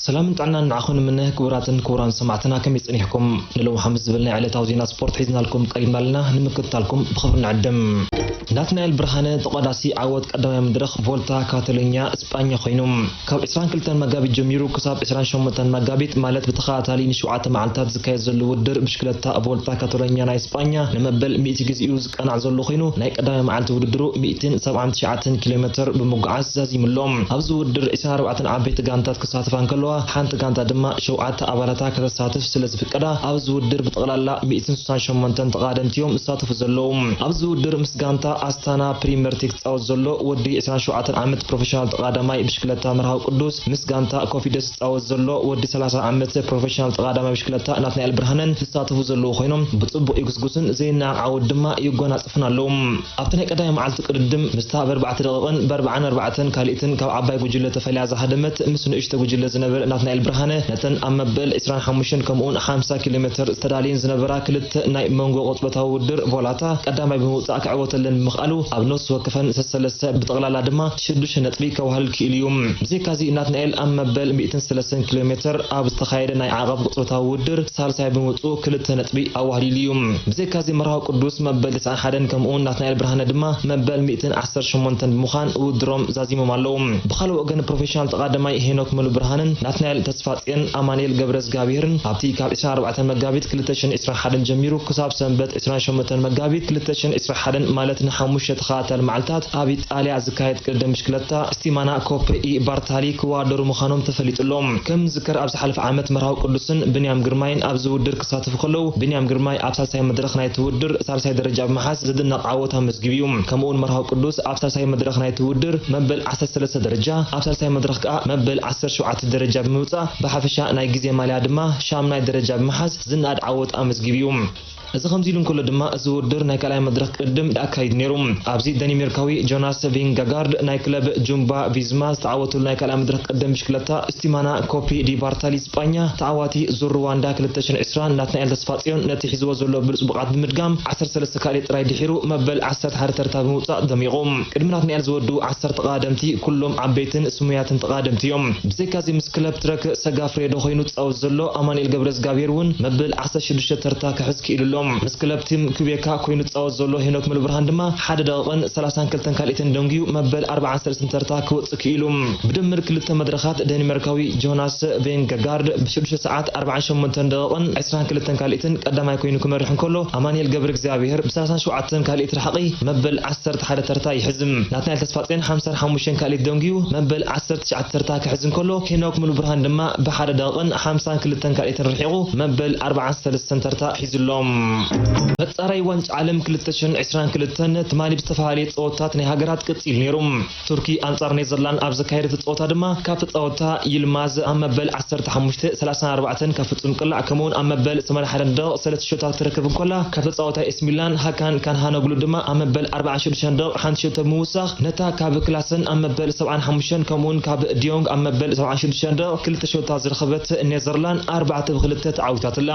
ሰላምን ጥዕናን ንዓኹም ንምነ ክቡራትን ክቡራን ሰማዕትና ከመይ ጸኒሕኩም ንሎሚ ሓሙስ ዝብል ናይ ዕለታዊ ዜና ስፖርት ሒዝናልኩም ቀሪብና ኣለና ንምክትታልኩም ብኽብሪ ንዕድም ናትናኤል ብርሃነ ተቋዳሲ ዓወት ቀዳማይ መድረኽ ቮልታ ካታሎኛ እስጳኛ ኮይኑ ካብ 22 መጋቢት ጀሚሩ ክሳብ 28 መጋቢት ማለት ብተኸታታሊ ንሸውዓተ መዓልታት ዝካየድ ዘሎ ውድድር ብሽክለታ ቮልታ ካታሎኛ ናይ እስጳኛ ንመበል ሚእቲ ግዜኡ ቃና ዘሎ ኮይኑ ናይ ቀዳማይ መዓልቲ ውድድሩ ሚእትን ሰብዓን ትሽዓተን ኪሎ ሜተር ብምጉዓዝ ዛዚሙ ኣሎ። ኣብዚ ውድድር ዕስራን ኣርባዕተን ዓበይቲ ጋንታት ክሳተፋ እንከለዋ ሓንቲ ጋንታ ድማ ሸውዓተ ኣባላታ ከተሳትፍ ስለ ዝፍቀዳ ኣብዚ ውድድር ብጠቕላላ ሚእትን ስሳን ሸሞንተን ተቐዳደምቲ'ዮም ዝሳተፉ ዘለዉ። ኣብዚ ውድድር ምስ ጋንታ ኣስታና ፕሪመርቲ ክጻወት ዘሎ ወዲ ዕስራን ሸውዓተን ዓመት ፕሮፈሽናል ተቐዳዳማይ ብሽክለታ መርሃዊ ቅዱስ ምስ ጋንታ ኮፊደስ ዝጻወት ዘሎ ወዲ ሰላሳ ዓመት ፕሮፌሽናል ተቓዳማይ ብሽክለታ ናትናኤል ብርሃነ ዝሳተፉ ዘለዉ ኮይኖም ብጽቡቕ ይጉስጉሱን ዘይነዓቕ ዓወት ድማ ይጎናጸፉን ኣለዉ። ኣብቲ ናይ ቀዳማይ መዓልቲ ቅድድም ምስታ ብኣርባዕተ ደቒቕን ብኣርብዓን ኣርባዕተን ካልኢትን ካብ ዓባይ ጉጅለ ተፈልያ ዝሃደመት ምስ ንእሽቶ ጉጅለ ዝነበረ ናትናኤል ብርሃነ ነተን ኣብ መበል ዕስራን ሓሙሽተን ከምኡውን ሓምሳ ኪሎሜተር ዝተዳልየን ዝነበራ ክልተ ናይ መንጎ ቅጽበታዊ ውድድር ቮላታ ቀዳማይ ብምውጻእ ክዕወተለን ብምኽኣሉ ኣብ ነፍሲ ወከፈን ሰሰለስተ ብጠቕላላ ድማ ሽዱሽተ ነጥቢ ከዋህልል ክኢሉ'ዩ። ብዘይካ'ዚ ናትናኤል ኣብ መበል ሚእትን ሰለስተን ኪሎ ሜተር ኣብ ዝተኻየደ ናይ ዓቐብ ቅጽበታዊ ውድድር ሳልሳይ ብምውጽኡ ክልተ ነጥቢ ኣዋህሊሉ'ዩ። ብዘይካ'ዚ መርሃዊ ቅዱስ መበል ተስዓን ሓደን ከምኡ'ውን ናትናኤል ብርሃነ ድማ መበል ሚእትን ዓሰርተ ሸሞንተን ብምዃን ውድድሮም ዛዚሞም ኣለዉ። ብኻልእ ወገን ፕሮፌሽናል ተቓዳማይ ሄኖክ ሙሉብርሃንን ናትናኤል ተስፋጽዮን ኣማንኤል ገብረዝግኣብሄርን ኣብቲ ካብ ዕስራን ኣርባዕተን መጋቢት ክልተ ሽሕን ዕስራን ሓደን ጀሚሩ ክሳብ ሰንበት ዕስራን ሸሞንተን መጋቢት ክልተ ሽሕን ዕስራን ሓደን ማለት ንሓሙሽተ ተኸታታሊ መዓልታት ኣብ ጣልያ ዝካየድ ቅድድም ብሽክለታ ስቲማና ኮፐ ኢ ባርታሊ ክወዳደሩ ምዃኖም ተፈሊጡ ኣሎ። ከም ዝዝከር ኣብ ዝሓለፈ ዓመት መርሃዊ ቅዱስን ብንያም ግርማይን ኣብዚ ውድድር ክሳተፉ ከለዉ ብንያም ግርማይ ኣብ ሳልሳይ መድረኽ ናይቲ ውድድር ሳልሳይ ደረጃ ብምሓዝ ዝድነቕ ዓወት ኣመዝጊቡ እዩ። ከምኡ'ውን መርሃዊ ቅዱስ ኣብ ሳልሳይ መድረኽ ናይቲ ውድድር መበል ዓሰርተ ሰለስተ ደረጃ ኣብ ሳልሳይ መድረኽ ከኣ መበል ዓሰርተ ሸውዓተ ደረጃ ብምውጻእ ብሓፈሻ ናይ ግዜ ማልያ ድማ ሻምናይ ደረጃ ብምሓዝ ዝነኣድ ዓወት ኣመዝጊቡ እዩ። እዚ ከምዚ ኢሉ እንከሎ ድማ እዚ ውድድር ናይ ካልኣይ መድረኽ ቅድድም ኣካይዱ ነይሩ። ኣብዚ ደኒሜርካዊ ጆናስ ቪንገጋርድ ናይ ክለብ ጁምባ ቪዝማ ዝተዓወተሉ ናይ ካልኣይ መድረኽ ቅድድም ብሽክለታ ስቲማና ኮፒ ዲ ባርታሊ ስጳኛ ተዓዋቲ ዙር ርዋንዳ ክልተ ሽሕን ዕስራን ናትናኤል ተስፋጽዮን ነቲ ሒዝዎ ዘሎ ብሉጽ ብቕዓት ብምድጋም ዓሰርተ ሰለስተ ካልኣይ ጥራይ ድሒሩ መበል ዓሰርተ ሓደ ተርታ ብምውጻእ ደሚቑ ቅድሚ ናትናኤል ዝወድኡ ዓሰርተ ተቐዳደምቲ ኩሎም ዓበይትን ስሙያትን ተቐዳደምቲ እዮም። ብዘይካዚ ምስ ክለብ ትረክ ሰጋፍሬዶ ኮይኑ ዝጻወት ዘሎ ኣማኑኤል ገብረዝጋብሄር እውን መበል ዓሰርተ ሽዱሽተ ተርታ ክሕዝ ክኢሉ ኣሎ። ምስ ክለብ ቲም ኲቤካ ኰይኑ ዝጻወት ዘሎ ሄኖክ ሙሉብርሃን ድማ ሓደ ደቒቕን ሰላሳን ክልተን ካልኢትን ደንጒዩ መበል ኣርባዓን ሰለስትን ተርታ ክወጽእ ክኢሉ። ብድምር ክልተ መድረኻት ደኒመርካዊ ጆናስ ቬንገጋርድ ብ ሽዱሽተ ሰዓት ኣርባዓን ሸሞንተን ደቒቕን ዕስራን ክልተን ካልኢትን ቀዳማይ ኰይኑ ክመርሕ እንከሎ ኣማኒኤል ገብረእግዚኣብሄር ብ ሰላሳን ሸውዓተን ካልኢት ራሕቒ መበል ዓሰርተ ሓደ ተርታ ይሕዝ። ናትናኤል ተስፋጼን ሓምሳን ሓሙሽተን ካልኢት ደንጒዩ መበል ዓሰርተ ትሽዓተ ተርታ ክሕዝ እንከሎ ሄኖክ ሙሉብርሃን ድማ ብ ሓደ ደቒቕን ሓምሳን ክልተን ካልኢትን መሬት ርሒቑ መበል ኣርባዓን ሰለስተን ተርታ ሒዙ'ሎ። መፃረይ ዋንጫ ዓለም ክልተ ሽሕን ዕስራን ክልተን ትማሊ ብዝተፈላልየ ፀወታታት ናይ ሃገራት ቅፂሉ ነይሩ። ቱርኪ ኣንፃር ኔዘርላንድ ኣብ ዘካየደቶ ፀወታ ድማ ካብ ተፃወትታ ይልማዝ ኣብ መበል ዓሰርተ ሓሙሽተ፣ ሰላሳን ኣርባዕተን ካብ ፍፁም ቅላዕ ከምኡ'ውን ኣብ መበል ሰማንያ ሓደን ደቕቕ ሰለስተ ሸቶታት ክትረክብ እንከላ ካብ ተፃወታይ ኤሲ ሚላን ሃካን ካንሃኖግሉ ድማ ኣብ መበል ኣርባዓን ሽዱሽተን ደቕቕ ሓንቲ ሸቶ ብምውሳኽ ነታ ካብ ክላሰን ኣብ መበል ሰብዓን ሓሙሽተን ከምኡ'ውን ካብ ዲዮንግ ኣብ መበል ሰብዓን ሽዱሽተን ደቒቕ ክልተ ሸቶታት ዝረኸበት ኔዘርላን ኣርባዕተ ብ ክልተ ተዓዊታትላ።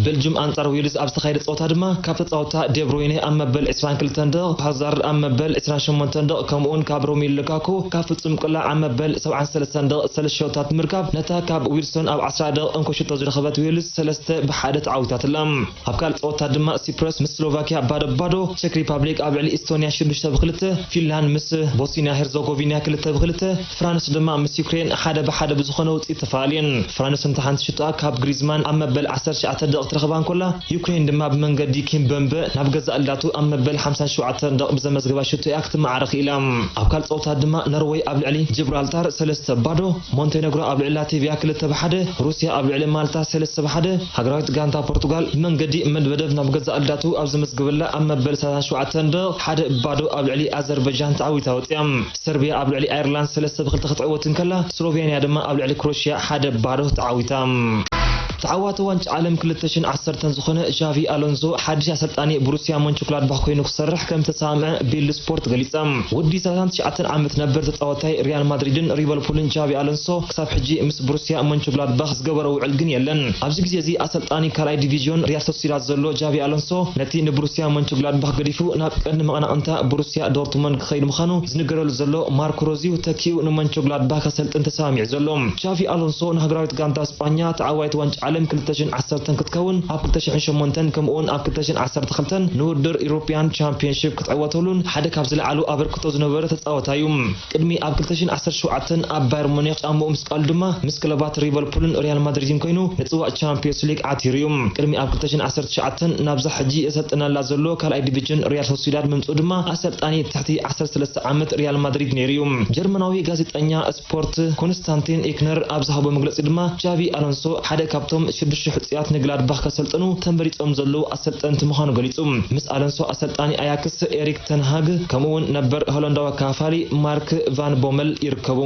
ቤልጁም ኣንጻር ዌልዝ ኣብ ዝተኻየደ ጸወታ ድማ ካብ ተጻወታ ዴብሮይነ ኣብ መበል ዕስራን ክልተን ደቒቕ፣ ሃዛርድ ኣብ መበል ዕስራን ሸሞንተን ደቒቕ ከምኡ'ውን ካብ ሮሚሉ ሉካኩ ካብ ፍጹም ቅላዕ ኣብ መበል ሰብዓን ሰለስተን ደቒቕ ሰለስተ ሸቶታት ብምርካብ ነታ ካብ ዊልሶን ኣብ ዓስራ ደቒቕ እንኮ ሸቶ ዝረኸበት ዌልዝ ሰለስተ ብ ሓደ ተዓዊታትላ። ኣብ ካልእ ጸወታ ድማ ሲፕረስ ምስ ስሎቫክያ ባዶ ብ ባዶ፣ ቸክ ሪፓብሊክ ኣብ ልዕሊ ኢስቶንያ ሽዱሽተ ብ ክልተ፣ ፊንላንድ ምስ ቦስንያ ሄርዞጎቪንያ ክልተ ብ ክልተ፣ ፍራንስ ድማ ምስ ዩክሬን ሓደ ብ ሓደ ብዝኾነ ውጽኢት ተፈላልየን። ፍራንስ ነታ ሓንቲ ሽቶኣ ካብ ግሪዝማን ኣብ መበል ዓሰርተ ትሽዓተ ደቒቅ ትረኽባ እንኮላ፣ ዩክሬን ድማ ብመንገዲ ኪምበምበ ናብ ገዛእ ላቱ ኣብ መበል ሓምሳን ሸውዓተን ደቒቅ ብዘመዝገባ ሽቶ እያ ክትመዓረ ክኢላ። ኣብ ካልእ ጸወታ ድማ ኖርወይ ኣብ ልዕሊ ጂብራልታር ሰለስተ ብ ባዶ፣ ሞንቴነግሮ ኣብ ልዕሊ ላቲቭያ ክልተ ብ ሓደ፣ ሩስያ ኣብ ልዕሊ ማልታ ሰለስተ ብ ሓደ፣ ሃገራዊት ጋንታ ፖርቱጋል ብመንገዲ መድበደብ ናብ ገዛእ ኣልዳቱ ኣብ ዘመዝገበላ ኣብ መበል ሰላሳን ሸውዓተን ደቕ ሓደ ባዶ ኣብ ልዕሊ ኣዘርበጃን ተዓዊታ ወጺኣ። ሰርቢያ ኣብ ልዕሊ ኣየርላንድ ሰለስተ ብ ክልተ ክትዕወት እንከላ ስሎቬንያ ድማ ኣብ ልዕሊ ክሮሽያ ሓደ ባዶ ተዓዊታ። ተዓዋቲ ዋንጫ ዓለም ክልተ ሽሕን ዓሰርተን ዝኾነ ዣቪ ኣሎንዞ ሓድሽ ኣሰልጣኒ ብሩስያ ሞንቸክላድባኽ ኮይኑ ክሰርሕ ከምዝተሰማምዐ ቢልድ ስፖርት ገሊጻ። ወዲ ሰላሳን ትሽዓተን ዓመት ነበር ተጻወታይ ሪያል ማድሪድን ሪቨልፑልን ዣቪ ኣሎንሶ፣ ክሳብ ሕጂ ምስ ብሩስያ ሞንቸግላድባኽ ዝገበሮ ውዕል ግን የለን። ኣብዚ ግዜ እዚ ኣሰልጣኒ ካልኣይ ዲቪዝዮን ሪያል ሶሲዳድ ዘሎ ጃቪ ኣሎንሶ ነቲ ንብሩስያ ሞንቸግላድባኽ ገዲፉ ናብ ቀንዲ መቐናቕንታ ብሩስያ ዶርትሞንድ ክኸይድ ምዃኑ ዝንገረሉ ዘሎ ማርኮ ሮዝ'ዩ ተኪኡ ንሞንቸግላድባኽ ከሰልጥን ተሰማሚዑ ዘሎ። ጃቪ ኣሎንሶ ንሃገራዊት ጋንታ ስጳኛ ተዓዋይት ዋንጫ ዓለም ክልተ ሽሕን ዓሰርተን ክትከውን ኣብ ክልተ ሽሕን ሸሞንተን ከምኡ'ውን ኣብ ክልተ ሽሕን ዓሰርተ ክልተን ንውድድር ኢሮፕያን ቻምፕዮንሺፕ ክትዕወተሉን ሓደ ካብ ዝለዓሉ ኣበርክቶ ዝነበረ ተጻወታይ'ዩ። ቅድሚ ኣብ ክልተ ሽሕን ዓሰርተ ሸውዓተን ኣብ ባየር ሙኒክ ጫምኡ ምስቃሉ ድማ ምስ ክለባት ሪቨልፑልን ሪያል ማድሪድን ኮይኑ ንጽዋእ ቻምፕዮስ ሊግ ዓቲሩ'ዩ። ቅድሚ ኣብ ክልተ ሽሕን ዓሰርተ ትሽዓተን ናብዛ ሕጂ ዘሰልጥነላ ዘሎ ካልኣይ ዲቪጅን ሪያል ሶሲዳድ ምምጽኡ ድማ ኣሰልጣኒ ትሕቲ ዓሰርተ ሰለስተ ዓመት ሪያል ማድሪድ ነይሩ'ዩ። ጀርመናዊ ጋዜጠኛ ስፖርት ኮንስታንቲን ኢክነር ኣብ ዝሃቦ መግለጺ ድማ ቻቪ ኣሎንሶ ሓደ ካብቶም ሽዱሽተ ሕጹያት ንግላድባኽ ከሰልጥኑ ተመሪጾም ዘለዉ ኣሰልጠንቲ ምዃኑ ገሊጹ። ምስ ኣሎንሶ ኣሰልጣኒ ኣያክስ ኤሪክ ተን ሃግ ከምኡ'ውን ነበር ሆላንዳዊ ኣካፋፋሊ ማርክ ቫን ቦመል ይርከቡ።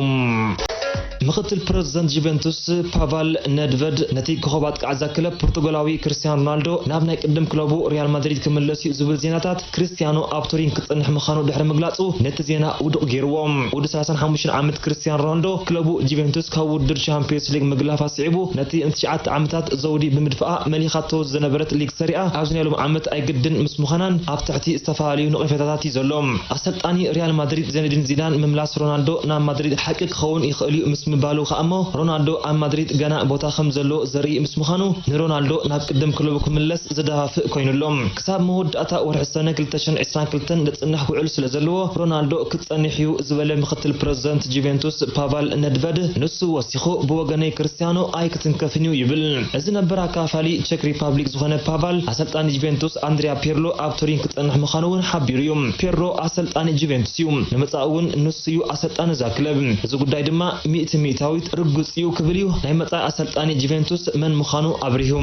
ምኽትል ፕረዚደንት ጁቬንቱስ ፓቫል ነድቨድ ነቲ ኮኾብ ኣጥቃዒ'ዛ ክለብ ፖርቱጋላዊ ክርስትያኖ ሮናልዶ ናብ ናይ ቅድም ክለቡ ሪያል ማድሪድ ክምለስ'ዩ ዝብል ዜናታት ክርስትያኖ ኣብ ቱሪን ክጸንሕ ምኻኑ ድሕሪ ምግላጹ ነቲ ዜና ውዱቕ ጌርዎ። ወዲ ሰላሳን ሓሙሽተን ዓመት ክርስትያን ሮናልዶ ክለቡ ጁቬንቱስ ካብ ውድድር ቻምፕዮንስ ሊግ ምግላፍ ኣስዒቡ ነቲ ንትሽዓተ ዓመታት ዘውዲ ብምድፋኣ መሊኻቶ ዝነበረት ሊግ ሰሪኣ ኣብዚ ናይ ሎሚ ዓመት ኣይግድን ምስ ምዃናን ኣብ ትሕቲ ዝተፈላለዩ ነቐፌታታት'ዩ ዘሎ። ኣሰልጣኒ ሪያል ማድሪድ ዚነዲን ዚዳን ምምላስ ሮናልዶ ናብ ማድሪድ ሓቂ ክኸውን ይኽእል'ዩ ምስ ምባሉ ከኣ'ሞ ሮናልዶ ኣብ ማድሪድ ገና ቦታ ከም ዘለዎ ዘርኢ ምስ ምዃኑ ንሮናልዶ ናብ ቅድም ክለቡ ክምለስ ዘደፋፍእ ኮይኑ ኣሎ። ክሳብ መወዳእታ ወርሒ ሰነ ክልተ ሽሕን ዕስራን ክልተን ዝጽንሕ ውዕል ስለዘለዎ ሮናልዶ ክጸንሕ'ዩ ዝበለ ምኽትል ፕረዚደንት ጁቬንቱስ ፓቫል ነድቨድ፣ ንሱ ወሲኹ ብወገነይ ክርስትያኖ ኣይክትንከፍን'ዩ ይብል። እዚ ነበር ኣካፋሊ ቸክ ሪፓብሊክ ዝኾነ ፓቫል፣ ኣሰልጣኒ ጁቬንቱስ ኣንድሪያ ፒርሎ ኣብ ቱሪን ክጸንሕ ምዃኑ'ውን ሓቢሩ'ዩ። ፒርሎ ኣሰልጣኒ ጁቬንቱስ'ዩ፣ ንመጻኢ'ውን ንሱ'ዩ ኣሰልጣኒ እዛ ክለብ። እዚ ጉዳይ ድማ ሚእቲ ሚእታዊት ርግጽ'ዩ ክብል'ዩ ናይ መጻኢ ኣሰልጣኒ ጁቬንቱስ መን ምዃኑ ኣብሪሁ።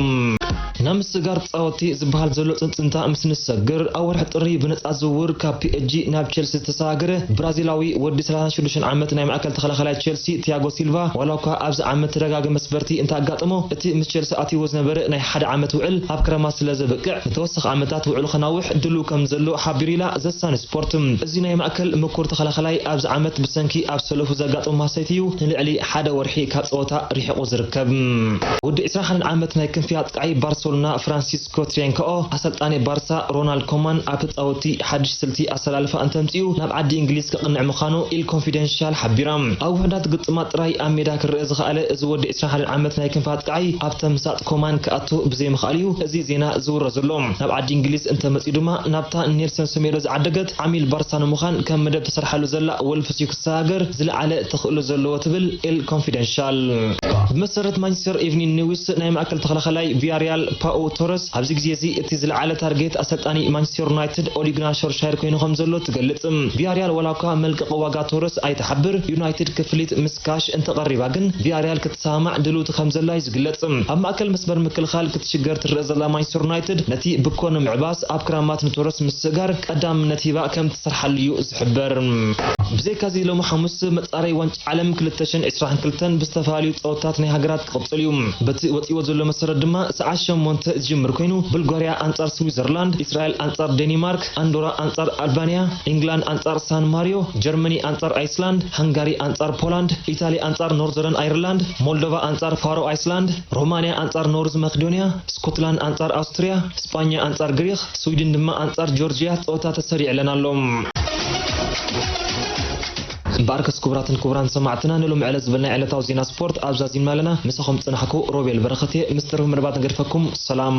ናብ ምስጋር ጻወቲ ዝበሃል ዘሎ ጽንጽንታ ምስ ንሰግር፣ ኣብ ወርሒ ጥሪ ብነጻ ዝውውር ካብ ፒኤስጂ ናብ ቼልሲ ዝተሰጋገረ ብራዚላዊ ወዲ ሰላሳን ሽዱሽተን ዓመት ናይ ማእከል ተኸላኻላይ ቼልሲ ቲያጎ ሲልቫ ዋላኳ ኣብዚ ዓመት ተደጋጋሚ መስበርቲ እንተኣጋጠሞ እቲ ምስ ቼልሲ ኣትይዎ ዝነበረ ናይ ሓደ ዓመት ውዕል ኣብ ክረማት ስለዘብቅዕ ንተወሳኺ ዓመታት ውዕሉ ከናውሕ ድሉው ከምዘሎ ሓቢሩ ኢላ ዘ ሳን ስፖርት። እዚ ናይ ማእከል ምኩር ተኸላኻላይ ኣብዚ ዓመት ብሰንኪ ኣብ ሰለፉ ዘጋጠሞ ማህሰይቲ እዩ ንልዕሊ ሓደ ወርሒ ካብ ጸወታ ሪሒቑ። ዝርከብ። ወዲ ዕስራን ሓደን ዓመት ናይ ክንፊ ኣጥቃዒ ባርሰሎና ፍራንሲስኮ ትሬንከኦ፣ ኣሰልጣኒ ባርሳ ሮናልድ ኮማን ኣብ ተጻወትቲ ሓድሽ ስልቲ ኣሰላልፋ እንተምጺኡ ናብ ዓዲ እንግሊዝ ከቕንዕ ምዃኑ ኢል ኮንፊደንሻል ሓቢራ። ኣብ ውሑዳት ግጥማት ጥራይ ኣብ ሜዳ ክረኣ ዝኸኣለ እዚ ወዲ ዕስራን ሓደን ዓመት ናይ ክንፊ ኣጥቃዒ፣ ኣብ ተምሳጥ ኮማን ክኣቱ ብዘይምኽኣሉ'ዩ እዚ ዜና ዝውረ ዘሎ። ናብ ዓዲ እንግሊዝ እንተመጺኡ ድማ ናብታ ንኔልሰን ሰሜዶ ዝዓደገት ዓሚል ባርሳ ንምዃን ከም መደብ ተሰሪሓሉ ዘላ ወልቭስ እዩ እታ ሃገር ዝለዓለ ተኽእሎ ዘለዎ ትብል ኤል ኮንፊደንሻል። ብመሰረት ማንቸስተር ኢቭኒን ኒውስ፣ ናይ ማእከል ተኸላኻላይ ቪያሪያል ፓኡ ቶረስ ኣብዚ ግዜ'ዚ እቲ ዝለዓለ ታርጌት ኣሰልጣኒ ማንቸስተር ዩናይትድ ኦሊ ግናር ሾልሻየር ኮይኑ ከምዘሎ ትገልጽ። ቪያሪያል ዋላ'ኳ መልቀቒ ዋጋ ቶረስ ኣይትሓብር፣ ዩናይትድ ክፍሊት ምስ ካሽ እንተቐሪባ ግን ቪያሪያል ክትሰማማዕ ድልውቲ ከምዘላ'ዩ ዝግለጽ። ኣብ ማእከል መስመር ምክልኻል ክትሽገር ትረኣ ዘላ ማንቸስተር ዩናይትድ ነቲ ብኮ ንምዕባስ ኣብ ክራማት ንቶረስ ምስግጋር ቀዳምነት ሂባ ከምትሰርሓሉ'ዩ ትሕበር። ብዘይካ'ዚ ሎሚ ሓሙስ መፃረይ ዋንጫ ዓለም ክልተ ሽሕን ዕስራን ክልተን ብዝተፈላለዩ ፀወታታት ናይ ሃገራት ክቕፅል እዩ። በቲ ወፂእዎ ዘሎ መሰረት ድማ ሰዓት ሸሞንተ ዝጅምር ኮይኑ ቡልጓርያ ኣንፃር ስዊዘርላንድ፣ እስራኤል ኣንፃር ዴኒማርክ፣ ኣንዶራ ኣንፃር ኣልባንያ፣ ኢንግላንድ ኣንፃር ሳን ማርዮ፣ ጀርመኒ ኣንፃር ኣይስላንድ፣ ሃንጋሪ ኣንፃር ፖላንድ፣ ኢታሊ ኣንፃር ኖርዘረን ኣይርላንድ፣ ሞልዶቫ ኣንፃር ፋሮ ኣይስላንድ፣ ሮማንያ ኣንፃር ኖርዝ መክዶንያ፣ ስኮትላንድ ኣንፃር ኣውስትርያ፣ ስጳኛ ኣንፃር ግሪኽ፣ ስዊድን ድማ ኣንጻር ጆርጅያ ጸወታ ተሰሪዕለን ኣሎ። እምበኣርከስ ክቡራትን ክቡራን ሰማዕትና ንሎሚ ዕለት ዝበልናዮ ዕለታዊ ዜና ስፖርት ኣብ ዛዚምና ኣለና። ምሳኹም ዝጸናሕኩ ሮቤል በረኸት እየ። ምስ ተረፈ መደባት ንገድፈኩም። ሰላም።